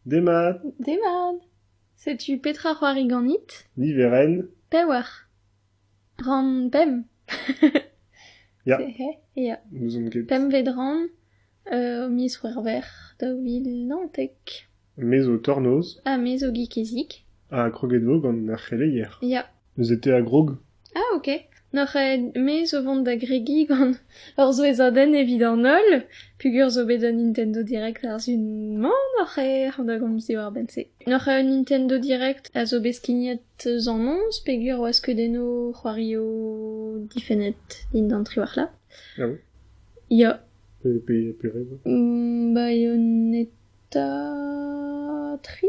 Demat. Demat. Setu petra 'c'hoari ganit ? Niverenn. Pewac'h. Ran pemp. Ya. Ya. N'ouzon ket. Pempvet ran, euh, miz C'hwec'hver daou vil naontek. Me zo tornoz. Ha me zo gikizik. Ha kroget vo gant ar c'heleier. Ya. Eus Ete a grog ? Ah ok, n'oc'h aet-me zo vont da gregiñ gant ur souezhadenn evit an holl, peogwir zo bet un Nintendo Direct a-zu-man oc'h aet da gomz diwar-benn-se. N'oc'h aet un Nintendo Direct a zo bet skignet eus an noz, peogwir oa skeudennoù c'hoarioù difennet dindan triwac'h-la. Ah oui Ya, Et puis, et puis rien. mm, baioneta tri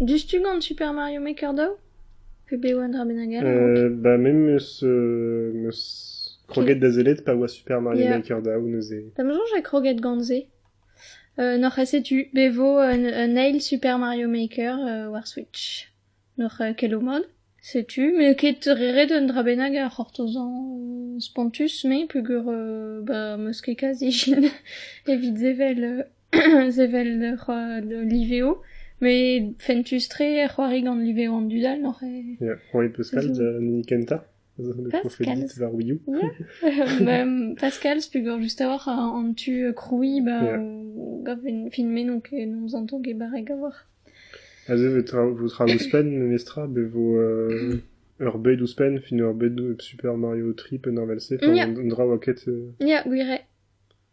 Diouzhtu gant Super Mario Maker daou ? Pe bev un dra bennak all a-raok ? Ba me 'meus meus kroget da sellet pa oa Super Mario Yeah. Maker daou neuze. Da ma soñj e kroget gant se. Euh, N'oc'h ket setu be vo un, un eil Super Mario Maker euh, war Switch. N'oc'h euh, ket o mod. Setu, m'eo ket re ret un dra bennak a c'hortozañ euh, spontus, me peogwir euh, bah, 'meus ket kazi evit sevel euh, sevel ur liveo met fentus-tre c'hoari gant liveo an dud all n'oc'h eo? Ya, c'hoari Pascal an hini kentañ profedit war Wii U. Pascal's pegor just a-walc'h an tu krouiñ ba gant filmennoù ke n'hom zanto ket barrek a-walc'h. Aze vo tra ouzhpenn memestra be vo ur bed ouzhpenn fin ur bed Super Mario Trip un avel-se un dra oa ket... Ya, gwir eo.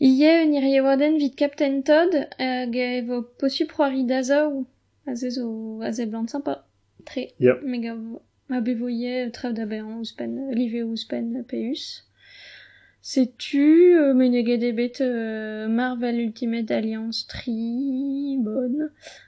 Ivez un iriaouadenn evit Captain Todd hag e vo posupl c'hoari dazorv aze zo a seblant sympa tre Yep. me gav ma bevo ivez traoù da baeañ ouzhpenn liveoù ouzhpenn peus setu euh, meneget eo bet euh, Marvel Ultimate Alliance tri bonn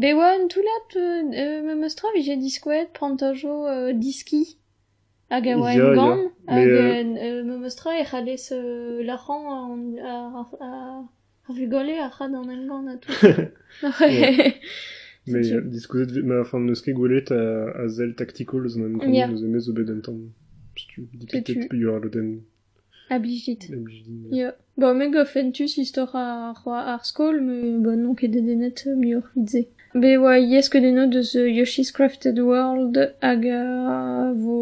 Bet oa un toullad memes tra 'vije diskouezet plantajo diski hag a oa emgann hag memes tra e c'hallez lârañ ar vugale a ra d'an emgann ha tout Mais diskouezet 'vit ma enfin n'eus ket gwelet a sell taktikol eus an emgann, eus hennezh zo bet un tamm setu dit ket peder lodenn. A blijit. Ya. Bon, me 'gav fentus istor ar c'hoa- ar skol, me bon n'on ket dedennet muioc'h 'vid-se. Me 'oa iesk udennañ deus Yoshi's Crafted World hag a vo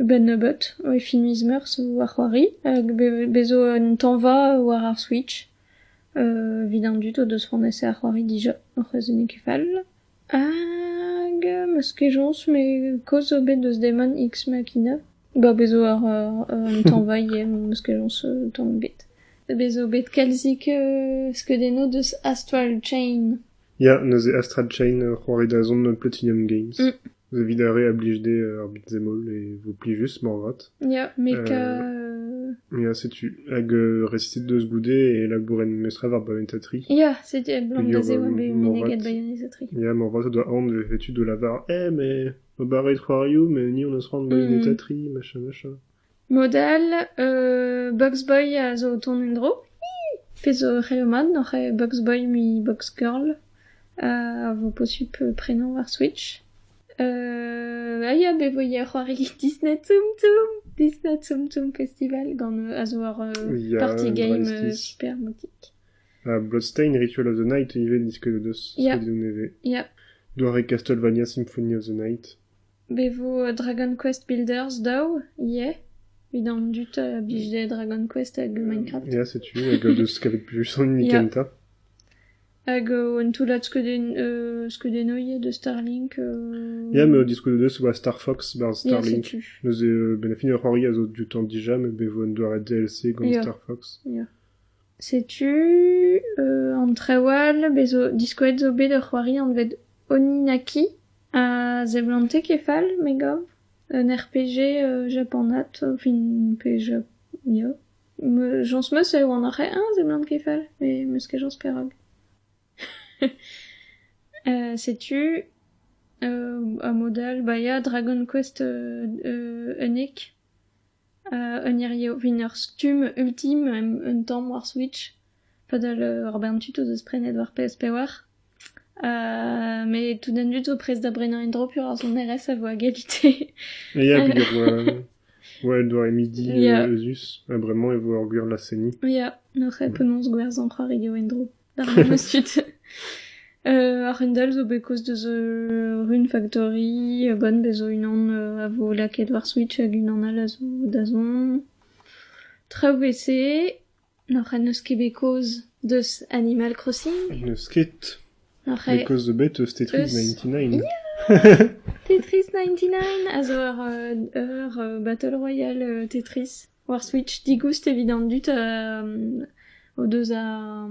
a-benn-nebeut e fin miz Meurzh war c'hoari. Hag be- bez 'zo un tañva war ar Switch. Evid an dud o deus c'hoant ese ar c'hoari dija, o c'hwezh eo ket fall. Hag am eus kejañs met kaoz zo bet deus Deman X Machina. Ba bez zo ur un tañvailh am eus kejañs tamm ebet. Bez zo bet kalzik skeudennoù deus Astral Chain. Ya, neuze Astral Chain, c'hoari da zont Platinum Games. Evit ar re a blij dezhe ar beat-zemol e vo plijus moarvat. Ya, met... Euh... Ya, setu. Hag euh, resitet deus goude e labouren mestrev ar bayantatri. Ya, setu el blan da zev be meneget bayantatri. Ya, morvat doa aon vefe tu de lavar Eh, mais o barreit c'hoariou, mais ni on a sran bayantatri, mm. machin, machin. Modal, euh, Box Boy a zo o tont en-dro. Fez o c'heomad, noc'h Box Boy mi Box Girl. A vo posub prénom ar Switch. a ya da voiañ c'hoari Disney-Tsum-Tsum, Disney-Tsum-Tsum Festival gant a zo ur party game supermokic. Ha Bloodstained Ritual of the Night ivez disket deus ya. nevez. Ya. Doare Castlevania Symphony of the Night. Be vo Dragon Quest Builders daou, yeah. Evit an dud a blij Dragon Quest hag Minecraft. Ya, setu, hag deus kavet plus an hini kentañ. Hag un toullad skeudennoù eus Starlink. Ya, met o diskouezet e oa Star Fox barzh Starlink. Neuze, ben a fin ur c'hoari a zo du temps déjà, mais ben vo un doare DLC gant Star Fox. Setu an trewal bez zo diskouezet zo bet ur c'hoari anvet Oninaki a zeblante kefal, me gav. Un RPG japanat, fin, pe ja... ya. Jañs 'm-eus eo an arc'hant-eñ a seblant ket fall, met 'm-eus ket jañs perak. setu a-mod-all ba ya Dragon Quest unnek, un hirio, 'vin ur stumm ultim un tamm war Switch. Padal ur bern tud o deus prenet war PS5 met tout an dud zo prest da brenañ en-dro pur ar sonerezh a vo a galite. Ya, hag e vo ouais, el doare midi Yeah. eus, ha bremañ e vo ur gwir laz-seniñ. Ya, n'oc'h penaos gwerzhañ c'hoari eo en-dro d'ar memes tud. Euh, ar Rundle zo bet kaoz deus euh, Rune Factory, euh, Bon bez zo unan euh, a vo lakaet war Switch hag unan all a zo da zont. Traoù WC, N'oc'h en eus ket bet kaoz deus Animal Crossing ? N'eus ket. N'oc'h ket kaoz ebet eus Tetris ninety nine. Tetris ninety nine a zo ur ur battle royale Tetris war Switch. Digoust evit an dud o deus ar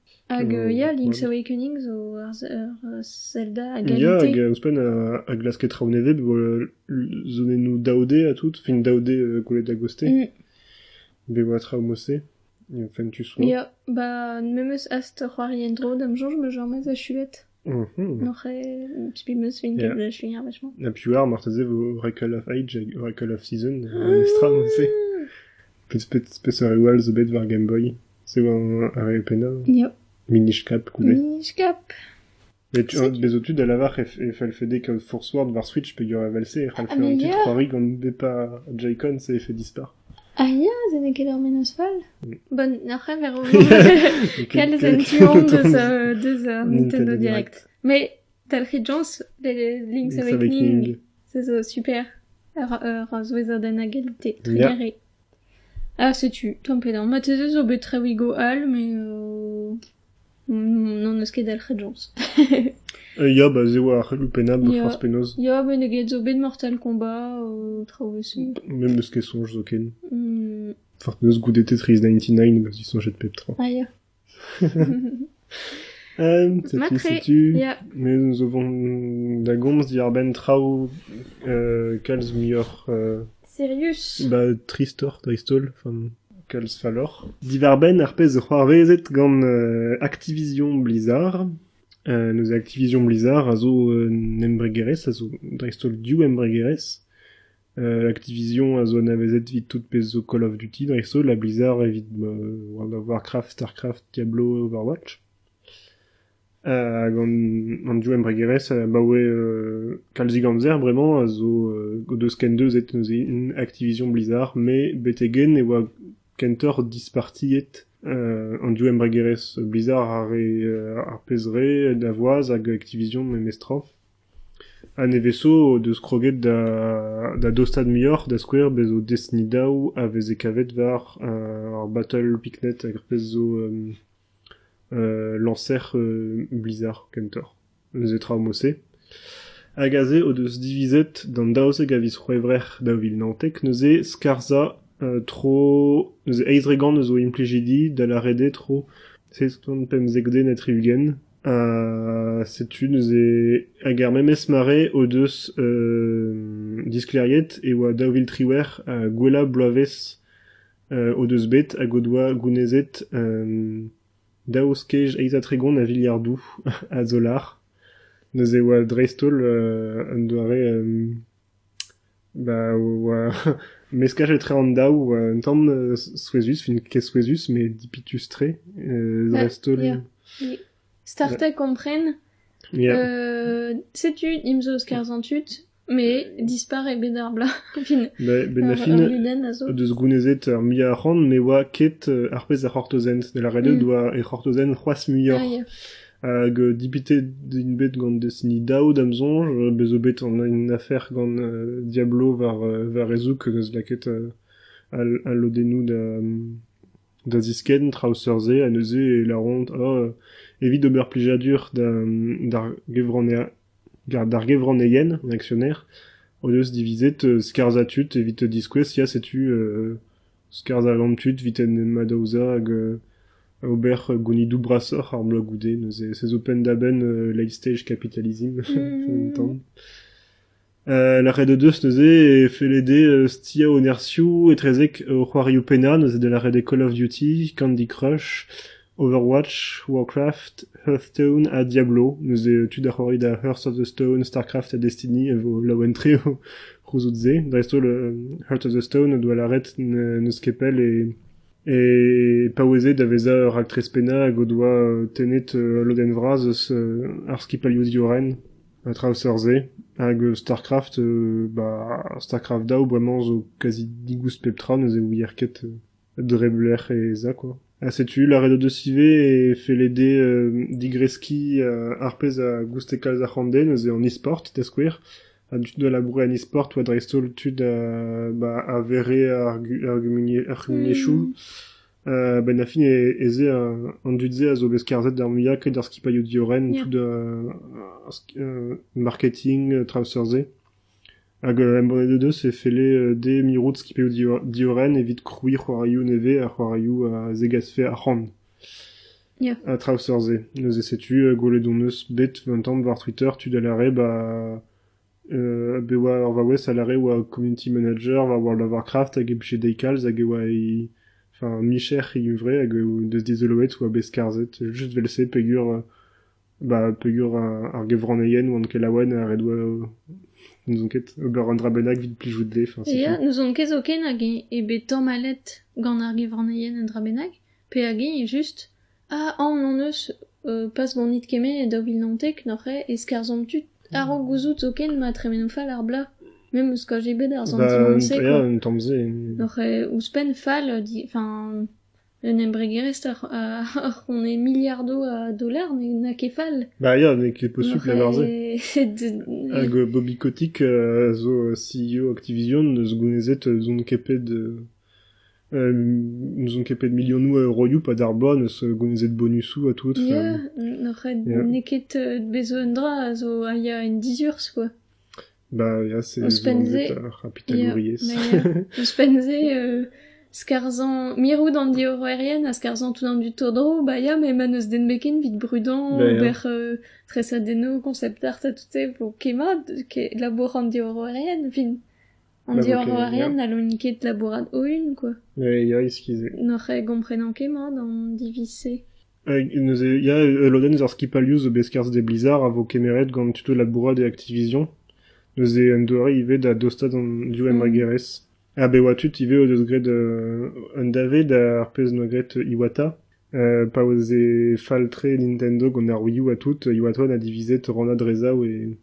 Hag ya, Link's Awakening zo ur Zelda a galite. Ya, hag ouzhpenn a glaske traoù nevez, zonennoù daoudé ha tout, fin daoudé gwelet da goste. Mm. Bet oa traoù mose, fin tu soa. Ya, bah memes ast c'hoari en-dro da'm soñj ma jamas a chulet. Noc'h eo spi 'm eus fin ket chuiañ wech'mañ. Ha piv oar marteze vo Oracle of Age hag Oracle of Season mestra mod-se. Peseurt-peseurt all zo bet war Game Boy? Se oa ar re pennañ? Ya. Minish-cap ivez. Minish-cap. Mais tu, bezo-tu da lavar e fallfe kaout Forsword war Switch peogwir evel-se e c'hallfe rentrer 3 rig gant pas Joy-Con c'est effet dispar. Ah ya, se n'eo ket ur mennozh fall. Bon, ar c'heñver eo kalz en tu-hont deus euh, deus euh, Nintendo Direct. Mais talc'hit Jones, les Link's Awakening, ça zo super. Ur souezher den hag alité, trugaré. Ah, setu, tamm pedañ. Ma te zo bet traoù go all, mais... Euh... N'hon eus ket dalc'het jañs. Ya, ba se 'oa ar c'helloù pennañ ba forzh penaos. Ya, meneget zo bet Mortal Kombat, traoù echu. Me 'm eus ket soñj zoken. Hmm. Forzh penaos goude Tetris 99 'm eus disoñjet pep tra. Ah ya. Setu, setu. Ya. Me zo vont da gomz diwar-benn traoù kalz muioc'h Sirius. Bah, tristoc'h, dreist-holl, enfin, kalz falloc'h. Divar-benn ar pezh zo c'hoarvezet gant euh, Activision Blizzard. Euh, nos Activision Blizzard a zo un embregerezh, a zo dreist-holl div embregerezh. Euh, Activision a zo anavezet evit tout pezh zo Call of Duty, dreist-holl, ha Blizzard evit bah, World of Warcraft, Starcraft, Diablo, Overwatch. Hag an div embregerezh abaoe kalzik amzer bremañ a zo o deus kendeuzet neuze Activision Blizzard met betek-henn e oa kentoc'h dispartiet an div embregerezh Blizzard ar re ar pezh re Davoise hag Activision memestra. Ha nevez-zo o deus kroget da dostaat muioc'h da skouer bez' zo Destiny daou a veze kavet war ar Battle Picnet hag ar pezh zo Lañser Blizzard kentoc'h, neuze tra ho mod-se. Hag aze o deus divizet d'an daouzek a viz C'hwevrer daou vil naontek neuze skarzhañ tro... neuze eizh dregont eus o implijidi da lâret eo tro seizh kant pemzek den ha tri-ugent. Ha setu neuze... hag er memes mare o deus disklêriet e oa daou vil triwec'h ha gwellañ bloavezh o deus bet hag o doa gounezet daou skej eizh ha tregont a viliardoù a dolar. Neuze e oa dreist-holl un doare ba oa meskaj etre an daou oa un tamm souezhus, fin ket souezhus met dipitus-tre dreist-holl. Start à comprendre. Setu, imzo skarzhañ tud, Met dispar eo bet ar bloaz fin. Ben Laffin o deus gounezet ar muiañ arc'hant ne oa ket ar pezh a c'hortozent. Da lâret eo mm. doa e c'hortozent c'hoazh muioc'h. Hag dipitet int bet gant Destiny daou da'm soñj. Bez zo bet une afer gant Diablo war, war e zoug neus lakaet al lodennoù da, Da ziskenn traoù seurt-se ha neuze e lâront oh evit ober plijadur d'ar gevranneien an aksioner o deus divizet skarzhañ tud evit diskouez ya setu skarzhañ tud evit en em adaozañ hag ober gounidoù brasoc'h ar bloaz goude neuze se zo penn-da-benn late-stage capitalism un tamm. Lâret o deus neuze e felle dezhe stia o nerzhioù etrezek o c'hoarioù pennañ, neuze da lâret eo Call of Duty, Candy Crush, Overwatch, Warcraft, Hearthstone ha Diablo. Neuze tud a c'hoari da Hearts of the Stone, StarCraft ha Destiny a vo laouen tre o c'houzout-se. Dreist-holl Hearts of the Stone o doa lâret n'eus ket pell e e paoueze da vezañ ur raktres pennañ hag o doa tennet lodenn vras eus ar skipailhoù diorren. An traoù seurt-se hag Starcraft ba Starcraft daou bremañ zo kazi digoust pep tra neuze ouier ket dreblec'h e za kwa. Ha setu lâret o deus ivez e felle dezhe digreskiñ ar pezh a gouste kalz ar c'hoant dezhe neuze an e-sport da skouer. Ha dud a laboure en e-sport oa dreist-holl tud ba a vere ar gu- ar gumuniezh- ar gumuniezhioù. A-benn ar fin ez eo an dud-se a zo bet skarzhet d'ar muiañ ket d'ar skipailhoù diorren tout marketing traoù seurt-se. Hag embannet deus e felle dezhe mirout skipailhoù diorren evit krouiñ c'hoarioù nevez ha c'hoarioù a zegasfe arc'hant. Yeah. Ha traoù seurt-se. Neuze setu gwelet hon eus bet un tamm war Twitter tud a lâre ba bet oa ur vaouez a lâre oa community manager war World of Warcraft hag e blije dezhi kalz hag e oa he enfin micher he huñvre hag e deus dizoloet oa bet skarzhet just vel-se peogwir ba peogwir ar gevranneien oant ket laouen ha ret oa n'ouzon ket ober un dra bennak evit plijout dezhe enfin setu. Ya n'ouzon ket zoken hag eo bet tamallet gant ar gevranneien un dra bennak pe hag eo just Ha aon hon eus, pas ganit kement e daou vil naontek neuze, e skarzhomp tud a-raok gouzout zoken ma tremeno fall ar blaz. Me 'm eus kajet bet ar santiment-se quoi. Ya, un tamm-se. Neuze ouzhpenn fall, enfin, un embregerezh a c'hone miliardoù a dollars n'a ket fall. Bah ya, n'eo ket possible d'avoir ça. Hag Bobby Kotick zo CEO Activision, eus gounezet zon kepet N'ouzon ket pet milionoù a euroioù pad ar bloaz 'neus gouezet bonusoù ha tout. Ya, n'oc'h ret n'eo ket bez' un dra a zo a ya en dizurzh quoi. Bah ya, c'est ouzhpenn-se ar c'hapitalouriezh. Ouzhpenn-se skarzhañ mirout an diorroerien ha skarzhañ tout an dud tro-dro, bah ya, met ma 'neus den beken 'vit brudañ, ober tresadennoù, konsept art ha tout-se 'vo ket mat labour an diorroerien 'vit. An diorroerien n'hallont ket labourat o-unan, quoi. Ya, eskis-se. N'oc'h gomprenan ket mat an diviz-se. Neuze, ya, ul lodenn eus ar skipailhoù zo bet skarzh d'e Blizzard a vo kemeret gant tuto labourat e Activision. Neuze un doare ivez da dostaat an div embregerezh. Ha bet oa tud ivez o deus graet un dave d'ar pezh noa graet Iwata. pa oa se fall-tre Nintendo gant ar Wii U ha tout, Iwata a divise torrent Drezav e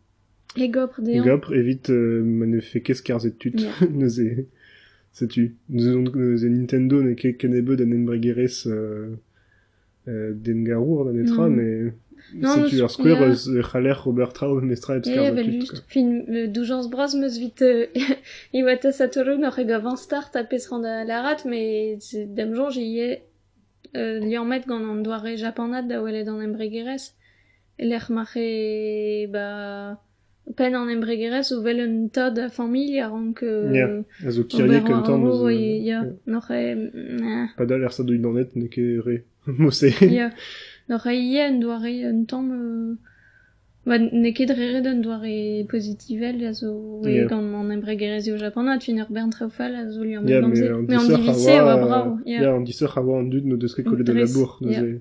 E gopr dezhañ. E gopr evit ma ne vefe ket skarzhet tud. Neuze, setu, neuze Nintendo n'eo ket kennebeut un embregerezh dengarour da netra, mais setu ur skouer eus e c'haller ober traoù memestra hep skarzhañ tud. Just, fin doujañs bras 'm eus evit Iwata Satoru n'oc'h ket gav start ha pezh ran da lârat, mais d'am soñj ivez liammet gant an doare japanat da welet an embregerezh. e-lec'h ma c'he ba penn an embregerezh o wel un tad a familh a rank a zo kiriek un tamm ya n'oc'h padal er sadouidaned n'eo ket re mose ya n'oc'h ivez un doare un tamm n'eo ket re ret un doare pozitivel a zo gant an embregerezhioù japanat fin ur bern traoù fall a zo liammet gant se met an diviz-se a oa brav ya an disoc'h a oa an dud n'o deus ket kollet al labour neuze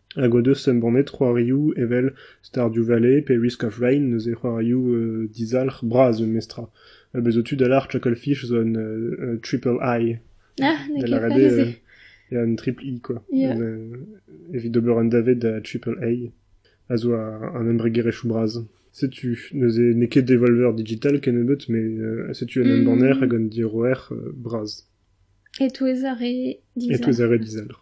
Hag o deus embannet c'hoarioù evel Stardew Valley pe Risk of Rain, neuze c'hoarioù dizalc'h bras memestra. Ha bez' zo tu da lâr Chucklefish zo un triple eye. Da lâret eo ya, un triple E quoi. Yeah. Evit ober un dave da triple A, a zo an embregerezhioù bras. Setu, neuze n'eo ket Devolver Digital kennebeut, met setu un embanner hag un diorroer bras. E-touez ar re dizalc'h. E-touez ar re dizalc'h.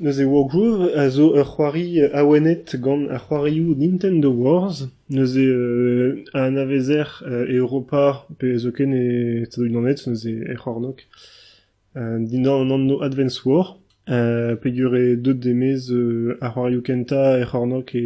Neuze Wargroove a zo ur c'hoari awenet gant ar c'hoarioù Nintendo Wars. Neuze euh a anavezer e Europa pe zoken e Stadoù-Unanet neuze er c'hornôg dindan an anv Advance War peogwir eo deut e-maez ar c'hoarioù kentañ er c'hornôg e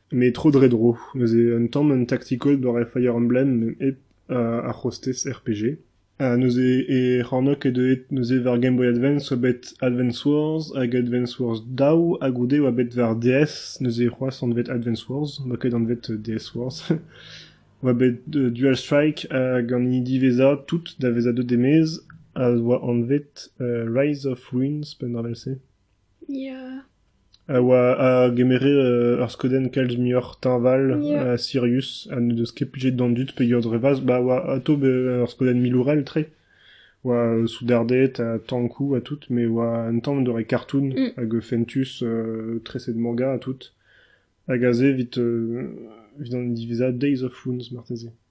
Met tro-dre-dro, neuze un tamm un tactical doare Fire-Emblem hep ar c'hostez RPG. Ha neuze e c'hornôg e deuet neuze war Game Boy Advance oa bet Advance Wars hag Advance Wars daou ha goude oa bet war DS neuze c'hoazh anvet Advance Wars oa ket anvet DS Wars. oa bet Dual Strike hag an hini diwezhañ tout da vezañ deut e-maez a oa anvet Rise of Ruins penn-ar-mell-se. a oa a gemere ur skeudenn kalz muioc'h teñval ha sirius ha n'en deus ket plijet d'an dud pegeurdrevas ba a oa atav ur skeudenn milourel tre oa soudarded ha tankoù ha tout met oa un tamm en doare kartoun hag fentus treset manga ha tout hag aze evit an diwezhañ Days of Wounds marteze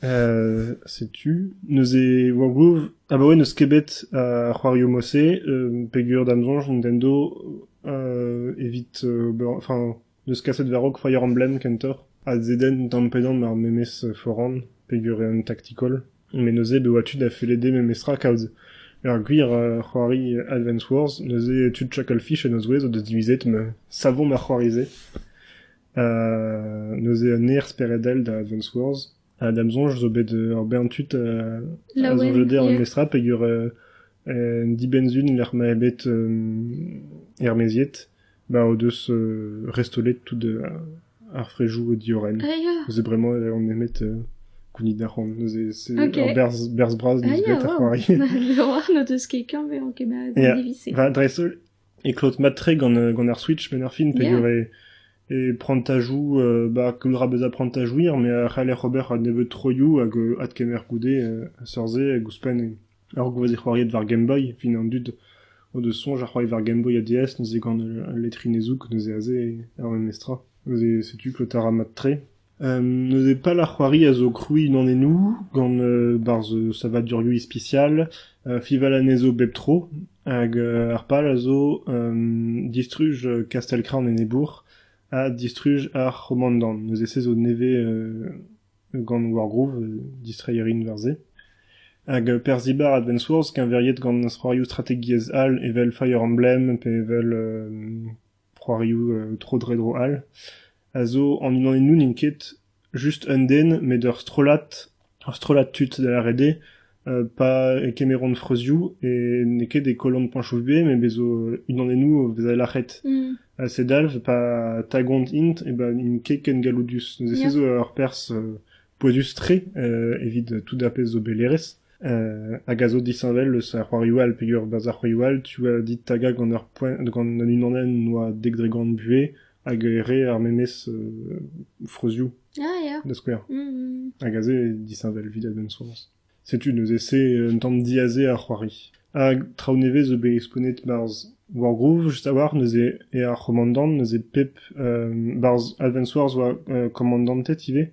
Setu neuze Wargroove abaoe n'eus ket bet ar c'hoarioù-mañ-se peger da'm soñj Nintendo evit ober enfin n'eus kaset war-raok Fire Emblem kentoc'h ha zedenn tamm-pe-damm ar memes foran peger eo un tactical met neuze e oa tu da fellede memestra kaout ur gwir c'hoari Advance Wars neuze tud Chucklefish en o zouez o deus divizet ma savomp ar c'hoari-se. neuze un aer speredel da Advance Wars ha da'm soñj zo bet ur bern tud a soñj dezhañ an estrad peger un dibenn-sun lec'h ma eo bet ermaeziet ba o deus restolet tout ar frejoù diorren neuze bremañ on nemet gounit da c'hoant neuze c'est ur berzh bras disbret ar c'hoari n'o deus ket kavet an diviz-se va dreist-holl e klot mat-tre gant gant ar Switch benn ar fin peger e e prantajoù ba koulra bezañ prantajouer me a c'haller ober nebeut troioù hag adkemer goude seurt-se hag ouzhpenn ur gwazi c'hoariet war Game Boy fin an dud o deus soñj a c'hoari war Game Boy ha DS neuze gant al letrinezhoù neuze aze er memestra neuze setu klotañ a ra mat-tre Neuze pal ar c'hoari a zo krouiñ an ennoù gant barzh savadurioù ispisial, fiñval anezho bep tro hag ar pal a zo distruj kastell-krant enebour ha distruj ar c'homandant. Neuze se zo nevez gant Wargroove, distreiñ a rin war se. Hag perzh-dibar Advance Wars keñveriet gant c'hoarioù strategiezh all evel Fire Emblem pe evel C'hoarioù tro-dre-dro all a zo an unanennoù n'int ket just un den met ur strollad ur strollad tud da lâret eo pa kemeront freuzioù e n'eo ket e kollont Panchoufbe met bez' zo unanennoù a vez lâret ha se dalv pa tagont int eh ben int ket ken galloudus neuze se zo ur perzh pouezus-tre evit tout ar pezh zo bet hêrezh. hag a zo disheñvel eus ar c'hoarioù all peger berzh ar c'hoarioù all. Tu a dit tagañ gant ar poent gant an unanenn oa dek dregont buhez hag re ar memes freuzioù. Ah ya. Da skouer. Mm-hmm. Hag aze eo disheñvel evit a-benn soañs. Setu neuze un tamm diaze ar c'hoari. Hag traoù nevez zo bet skonet barzh Wargroove, just a-walc'h, neuze e ar c'homandant, neuze pep... Uh, barzh Advance Wars oa uh, komandanted ivez,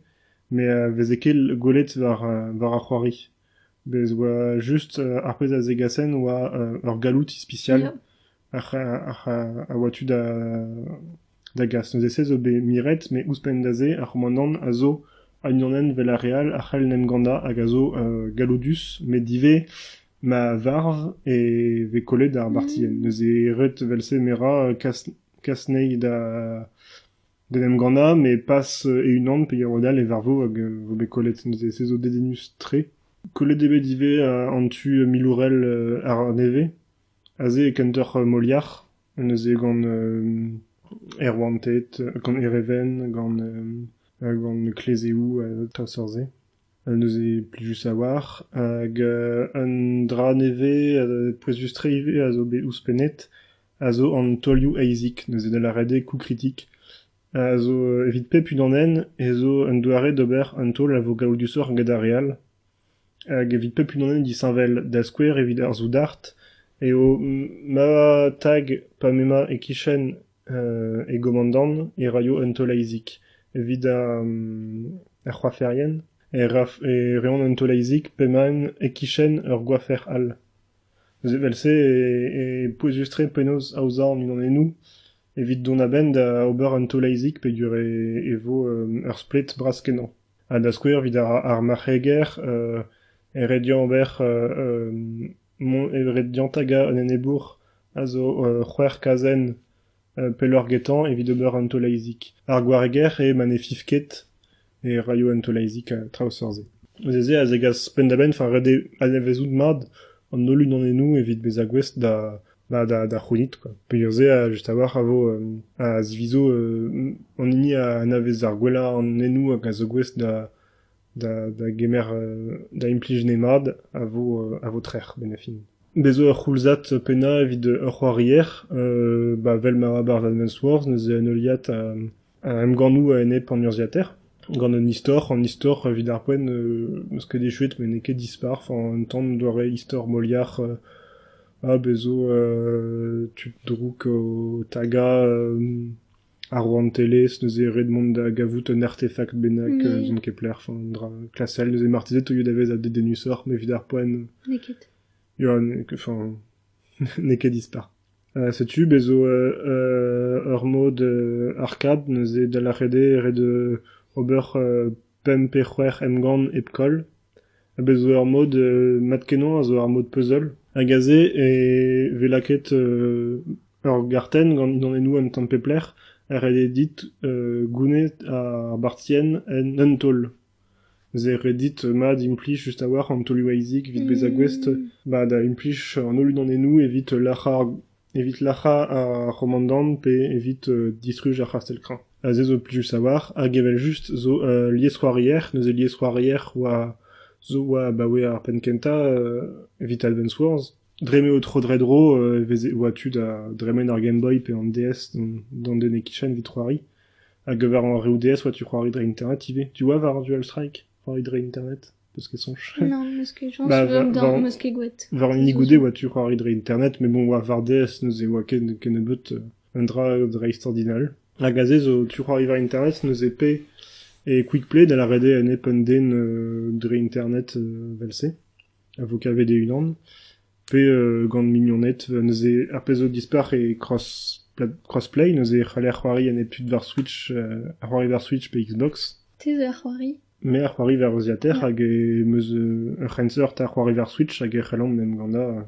Me a veze ket gwelet war ar c'hoari. Bez 'oa just ar pezh a zegasen oa ur galloud ispisial a oa tu da da gas. Neuze se zo bet miret met ouzhpenn da se ar c'homanant a zo unanenn 'vel ar re all a c'hell 'n em gannañ hag a zo galloudus met ivez ma varv e vez kollet ar bartienn. Neuze ret 'vel-se merañ kas kas 'nezhi da d'en em gannañ, met pas e-unan peger all e varvo hag vo bet kollet neuze. Se zo dedennus-tre. Kollet eo bet ivez an tu milourel ar nevez. Aze e kentoc'h Moliac'h, neuze gant Erwanted, gant Ereven, gant gant Klezeoù ha treuzseurt-se. Neuze plijus a-walc'h. Hag un dra nevez, pouezus-tre ivez, a zo bet ouzhpennet. a zo an taolioù eizhik, neuze da lâret eo koukritik, a zo evit pep unan ez eo un doare d'ober un taol a vo gaoudusoc'h gant ar re all, hag evit pep unan eo disheñvel, da skouer evit ar soudard eo ma tag pa m'emañ e-kichen e gomandant e raio un taol eizhik, evit ar c'hoaferien e reont un taol eizhik p'emaint e-kichen ur goafer all. Neuze evel-se e pouezus-tre penaos aozañ an unanennoù evit dont a-benn da ober un taol-aezig peogwir e vo ur splet bras-kenañ. Ha da skouer evit ar marc'heger e rediañ ober e rediañ tagañ un enebour a zo c'hwec'h kazenn Pelloc'h getañ evit ober un taol-aezig. Ar gwareger eo ma ne fiv ket e raio un taol-aezig ha traoù seurt-se. Evel-se a zegas penn-da-benn war ret eo anavezout mat an holl unanennoù evit bezañ gouest da da da da c'hounit kwa. Peogwir-se just a-walc'h a vo a zivizo an hini a anavez ar gwellañ anennoù hag a zo gouest da da gemer da implij nemad a vo a vo trec'h benefin. Bez' eo ur c'houlzad pennañ evit ur c'hoarier ba 'vel ma oa barzh Advance Wars neuze en heuliad a emgannoù a-enep an urzhiataer gant un istor, an istor evit ar poent meus ket echuet met n'eo ket dispar, enfin un tamm doare istor moliac'h ha bez' zo tud drouk o tagañ Ar rouantelezh neuze ret mont da gavout un artefakt bennak eus n'on ket pler, an dra klasel. Neuze marteze e teuio da vezañ dedennusoc'h, mais evit ar poent N'eo ket. ya, n'eo ket- enfin, n'eo ket dispar. Euh, setu, bez zo euh, euh, ur mod euh, arcade neuze da lâret eo ret euh, ober euh, pemp pe c'hwec'h emgann hepkoll, ha bez' zo ur mod mat-kenañ a zo ar mod puzzle, hag aze e vez lakaet ur gartenn gant dindanennoù un tamm pep lec'h, ha ret eo dit gounit ar bartienn en un taol. Ze ret dit mat implij just a-walc'h an taolioù Isaac evit bezañ gouest da implij an holl dindanennoù evit lec'hañ ar Evit lac'hañ ar c'homandant pe evit distruj ar c'hastell-kreñv. Aze zo plijus a-walc'h hag evel-just zo ul liesc'hoarier. Neuze liesc'hoarier oa zo oa abaoe ar penn-kentañ evit Alben Swords. Dre m'eo tro-dre-dro e veze oa tu da dremen ar Game Boy pe an DS d'an den e-kichen evit c'hoari. Hag war an reoù DS oa tu c'hoari dre internet ivez. Tu oa war ar Dual Strike c'hoari dre internet? Parce qu'elles sont chères. Non, meus ket jañs Bah, war- ganeoc'h, war- meus ket gwet. War an hini goude oa tu c'hoari dre internet, mais bon, oa war DS neuze oa ken, ken nebeut euh, un dra dra extraordinal. Hag aze zo tu c'hoari war internet neuze P et Quick Play da la rede en ep un den euh, dre internet euh, vel-se, a vo kavet e unan. Pe euh, gant mignoned neuze ar pezh zo dispar e cross pla- crossplay neuze e c'haller c'hoari en ep tud war Switch, euh, a c'hoari war Switch pe Xbox. Te zo ar c'hoari. Me a c'hoariva er vaziater hag em eus ur c'henseurt a c'hoariva er Switch hag e c'hellomp en em gannañ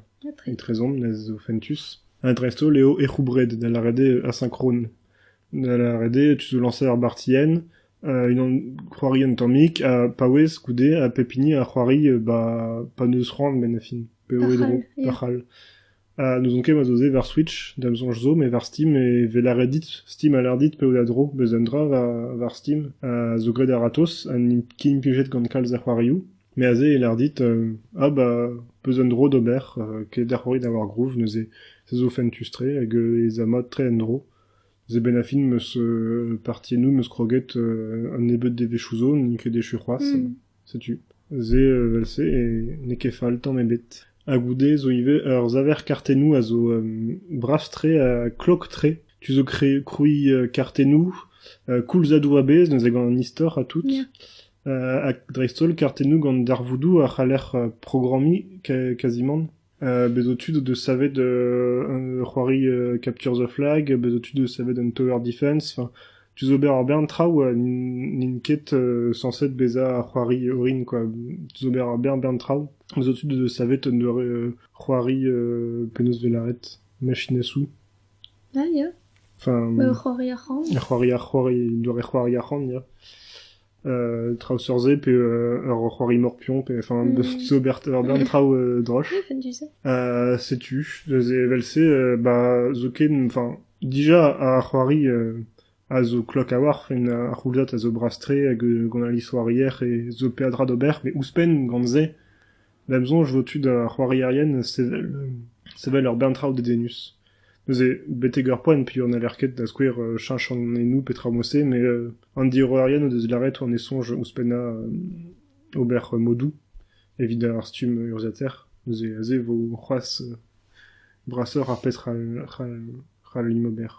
etrezomp, nes zo fentus. Ha dreist-holl eo ec'houbred, da lâret eo asynchrone. Da lâret eo tu zo lañser ur bartienn, unan c'hoari un tammig ha paouez goude ha pep hini a c'hoari ba pa n'eus c'hoant benn ar fin, p'eo e dro, pa c'hall. Ha n'ouzon ket ma zo se war Switch, da'm soñj zo, met war Steam e vez lâret dit, Steam a lâr dit peotadro beus un dra war Steam ha zo graet a-ratozh ha n'int ket implijet gant kalz a c'hoarioù. Met aze e lâr dit ah bah beus un dro d'ober, ket da c'hoari da war groove neuze se zo fentus-tre hag ez a mat tre en-dro. Neuze benn ar fin meus partie-nous meus kroget un nebeud devezhioù zo, n'int ket echu c'hoazh. Setu, se evel-se n'eo ket fall tamm ebet. Ha goude zo ivez ur saver kartennoù a zo brav-tre ha klok-tre. Tu zo krouiñ kartennoù koulzadoù a-bezh neuze gant an istor ha tout. Ya. Ha dreist-holl kartennoù gant darvoudoù a c'haller programmiñ kazimant. Bez' zo tud o deus savet un c'hoari Capture the Flag, bez' zo tud o deus savet un tower defense, enfin tu zo ober ur bern traoù ha n'int ket sañset bezañ c'hoari orin quoi, tu zo ober ur bern bern traoù. Bez' zo tud o deus savet un doare c'hoari penaos 'vez lâret machine à sous. Ah ya, enfin ur c'hoari arc'hant. Ur c'hoari arc'hant, un doare c'hoari arc'hant ya. traoù sur-se pe ur c'hoari morpion pe enfin d'ober d'un traoù droch setu evel-se bah zoken enfin dija ar c'hoari a zo klok a-walc'h en ar c'houlzad a zo brastre hag on a lisoar hier e zo peadra d'ober met ouzhpenn gant se Da 'm soñj e vo tu da c'hoarierien sevel sevel ur bern traoù dedennus. Neuze, betek ur poent piv n'haller ket da skouer cheñch an hennoù petra emañ se met an diorroerien o deus lâret eo ne soñj ouzhpennañ ober modoù evit ar stumm urzhiataer. Neuze aze vo c'hoazh brasoc'h ar pezh c'hallimp ober.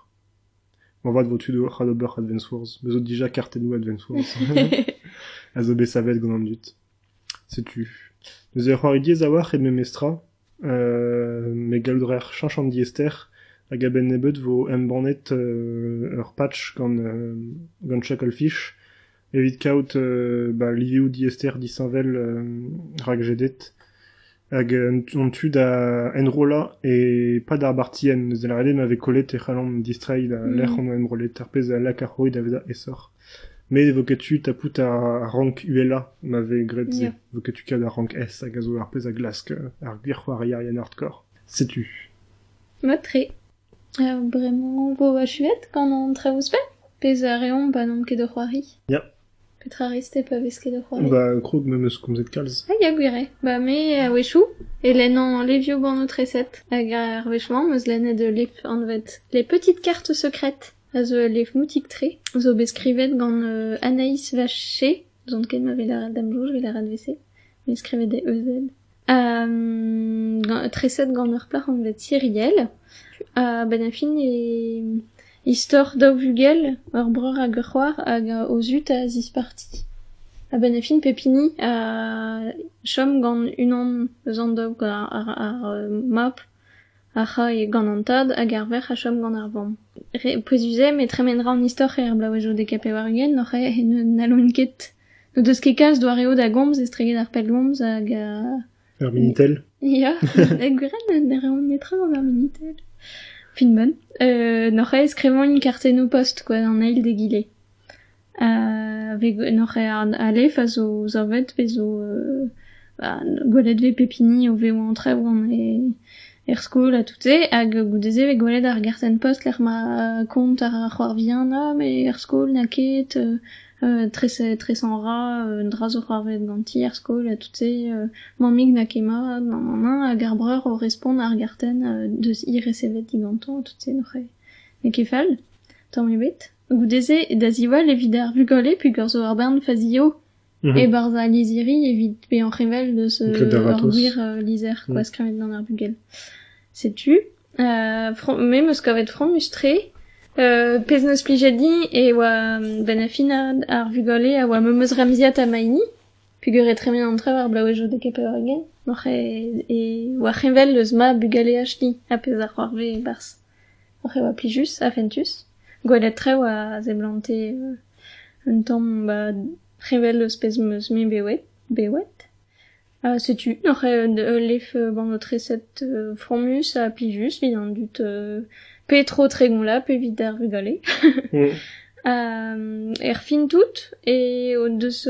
Moarvat vo tu c'hall ober Advance Wars. Bez zo dija kartennoù Advance Wars a zo bet savet gant an dud. Setu. Neuze ur c'hoari diaes a-walc'h eo memestra, met gallout a raer cheñch an diaester hag a-benn nebeut vo embannet ur patch gant gant Chucklefish evit kaout ba livioù diaester disheñvel rakjedet. hag an tu da enrollañ e-pad ar bartienn. Neuze lâret eo ma vez kollet e c'hallan distreiñ da lec'h on enrollet, ar pezh a laka c'houi da vezañ aesoc'h. Met e vo ket tu tapout ar rank uhelañ ma vez graet se. Ya. Vo ket tu kaout ar rank S hag a zo ar pezh a glask ar gwir c'hoarierien hardcore. Setu. Mat-tre. Euh, bremañ 'vo achuet gant an traoù ouzhpenn pezh a reomp ba n'omp ket o c'hoari. Ya, Petra 'rez-te pa vez ket o c'hoari? Ba, krog me'm eus komzet kalz. Ah ya gwir eo. Ba me, a-wechoù, e lennan levioù bannoù-treset. Hag ar wech-mañ 'm eus lennet ul lef anvet Les petites cartes secrètes, a zo ul lef moutik-tre, zo bet skrivet gant euh, Anaïs Vaché. N'ouzon ket ma 'vez lâret da'm soñj 'vez lâret 'vese, met skrivet d' e E-Z. treset gant ur plac'h anvet Cyrielle. A-benn ar fin e istor daou vugel, ur breur hag ur c'hoar, hag o zud a zisparti. A-benn ar fin pep hini a chom gant unan eus an daou, ar mab, a ra gant an tad, hag ar verc'h a chom gant ar vamm. Re pouezus eo, met tremen ra an istor er bloavezhioù dek ha pevar-ugent, n'allont ket N'o deus ket kalz doareoù da gomz estreget ar pellgomz hag uh... Ur minitel Ya, gwirel ne reont netra gant ar minitel. Fin bon. Euh, n'oc'h aes krevañ kartennoù post quoi an eil d'egile. Uh, n'oc'h alef a zo zavet pe zo uh, bah, gwelet vez pep hini o vezañ an traoù er skol ha tout-se hag goude-se vez gwelet ar gartenn post lec'h ma kont ar c'hoar vihan e er skol n'a ket tresañ a ra un dra zo c'hoarvezet ganti er skol ha tout-se. mammig n'a ket mat, nanananan, hag ar breur o respont ar gartenn deus he resevet digantañ ha tout-se n'oc'h n'eo ket fall, tamm ebet. Goude-se da ziwall evit ar vugale peogwir zo ur bern fazio e-barzh al lizhiri evit bezañ revel deus ur gwir lizher skoaz skrivet gant ar bugel. Setu. me 'm eus kavet fromus-tre. pezh 'neus plijet din e oa bennafinad ar vugale a oa memes remziad ha ma hini peger eo tremen an traoù ar bloavezhioù da kepeuregen oc'h e oa c'heñvel eus ma bugaleaj-ni ha pezh a c'hoarve e-barzh. Oc'h e oa plijus ha fentus. Gwelet traoù a seblante un tamm ba heñvel eus pezh 'm eus-me bewet. bewet. Setu oc'h eo ul lef treset fromus ha plijus evit an dud pe tro Tregoñlab evit ar vugale. Erfin tout e o deus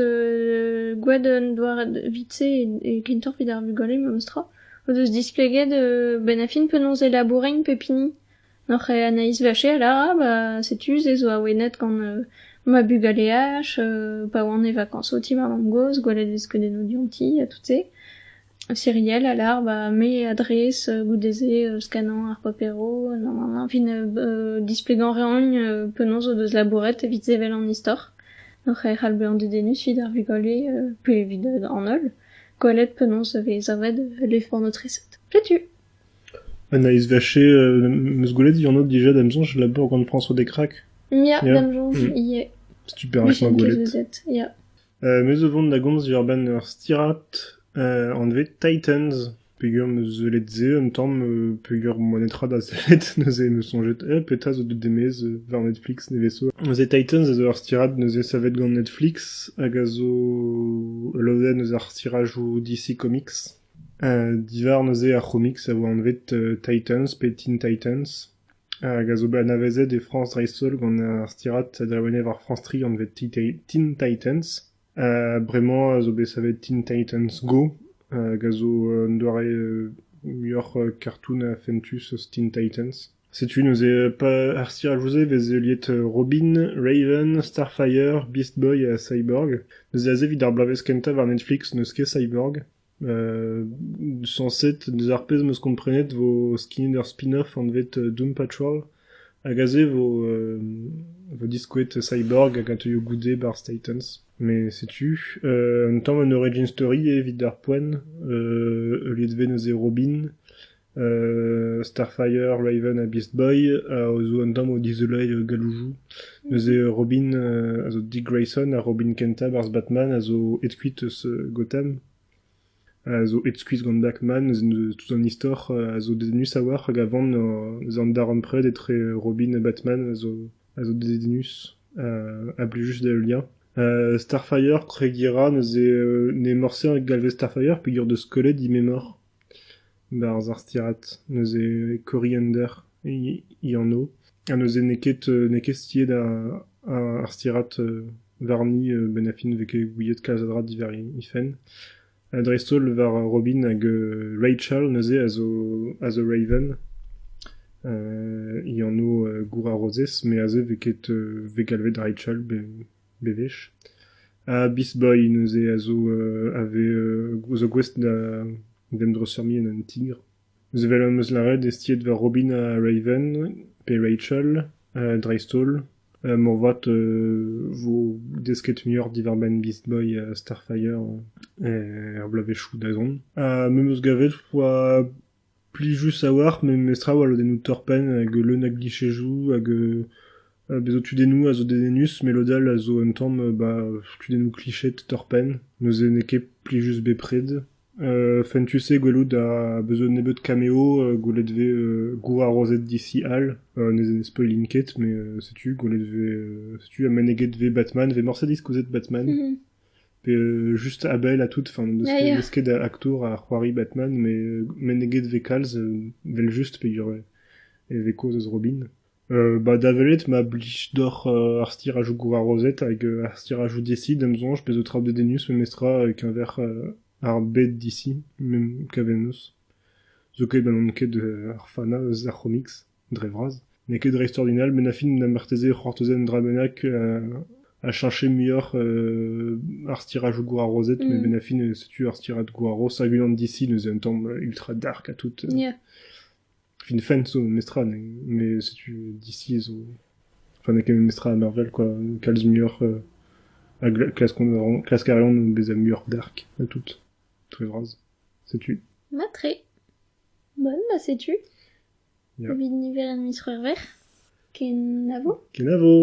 gwad un doare evit-se e gintor evit ar vugale memestra o deus displeget bennafi penaos e laboureint pep hini. Oc'h en isversel arabe setu se zo awenet gant ma bugaleaj pa oan e vakañs o ti ma mamm-gozh, gwelet e vez skeudennoù dionti ha tout se. Serial a lar ba me adrez goude-se skanañ ar paperoù nann-nann-nann fin displegañ 'reont penaos o deus labouret evit sevel an istor. Oc'h e c'hall bezañ dedennus evit ar vugale pe evit an holl gwelet penaos e vez savet l'effort de tressette. Setu. Un aezvezh-se em eus gwelet Dianot dija da'm soñj labour gant François Descraques. Ya, da'm soñj ivez. Super ec'h mañ gwelet. Ya. Me zo vont da gomz diwar-benn ur stirad anvet Titans peger am eus sellet se un tamm peger moa netra da sellet neuze em eus soñjet eh, petra zo deut demez war Netflix nevez-so. Neuze Titans a zo ur stirad neuze savet gant Netflix hag a zo ul lodenn eus ar stirajoù DC Comics. Divhar neuze ar c'homiks a oa anvet Titans pe Teen Titans, hag a zo bet anavezet e Frañs dreist-holl gant ar stirad adrevanet war France 3 anvet Teen Titans. Bremañ a zo bet savet Teen Titans Go, hag a zo un doare muioc'h kartoon ha fentus eus Teen Titans. Setu neuze ar stiraj-se 'vez heuliet Robin, Raven, Starfire, Beast Boy ha Cyborg. Neuze aze evit ar bloavezh kentañ war Netflix n'eus ket Cyborg. sañset, deus ar pezh 'meus komprenet 'vo skinnet ur spin-off anvet Doom Patrol hag aze 'vo vo diskouet Cyborg hag a teuio goude 'barzh Titans. Mais setu un tamm un origin story evit ar poent, heuliet 'vez neuze Robin, Starfire, Raven ha Beast Boy zo un tamm o dizoleiñ gallouzoù. Neuze Robin a zo Dick Grayson ha Robin kentañ barzh Batman a zo aet-kuit eus Gotham. A zo aet-skuizh gant Batman, neuze tout an istor a zo dedennus a-walc'h hag a van an darempred etre Robin ha Batman a zo a zo dedennus a blij just d'he liañ. Starfire, Tre Gira neuze n'eo morse galvez Starfire peogwir deus Skullet he memor. Barzh ar stirad, neuze Coriander he anv, ha neuze n'eo ket n'eo ket stiet ar stirad warni bennafi ne vez ket gouiet kalz a dra diwar he fenn. Dreist-holl war Robin hag Rachel neuze a zo a zo Raven, he anv gour ar rozez, met aze vez ket vez galvet Rachel. bewech. Ha bisboy neuze a zo a vez zo gouest da d'en em dreuzfurmiñ en un tigr. Evel am eus lâret eo stïet war Robin ha Raven pe Rachel dreist-holl. Moarvat e vo desket muioc'h diwar-benn Beastboy ha Starfire er bloavezhioù da zont. Ha me 'm eus gavet 'oa Plijus a-walc'h memes traoù, al lodennoù torr-penn hag leun a glichezoù hag bezañ tudennoù a zo dedennus, met lod all a zo un tamm tudennoù kliched torr-penn, neuze n'eo ket plijus bepred. Fentus eo gwelout ha bezañ un nebeud cameo gwelet vez gourarozed disi all, ne spoilin ket, met setu gwelet vez setu ha meneget vez Batman, vez morse diskouezet Batman. pe just a-bell ha tout, enfin n'eus ket, n'eus ket aktour a c'hoari Batman, mais meneget vez kalz vel-just peogwir e vez kaoz eus Robin. Euh, bah da welet ma blij doc'h euh, ar stirajou Gwarozet hag euh, ar stirajou DC d'am sonj pezo traoù de Denus memestra keñver ar bed DC, même kavel 'neus. Zo ket ba n'on ket ar fana eus ar c'homics. dre vras. N'eo ket dreist-ordinal, met na fin na marteze c'hortozen un dra bennak a cheñche muioc'h ar stirajoù gwarozet, met benn ar fin setu ar stirad gwaros hag unan d'ici neuze un tamm ultra dark ha tout. Fin fent zo memestra, mais setu d'ici zo... Enfin, n'eo ket memestra à Marvel, quoi. Kalz muioc'h... a klask a reont bezañ muioc'h dark ha tout. Très vras. Setu. Bah, très. Bon, bah, setu. Evit niver an miz C'hwevrer, kenavo. Kenavo.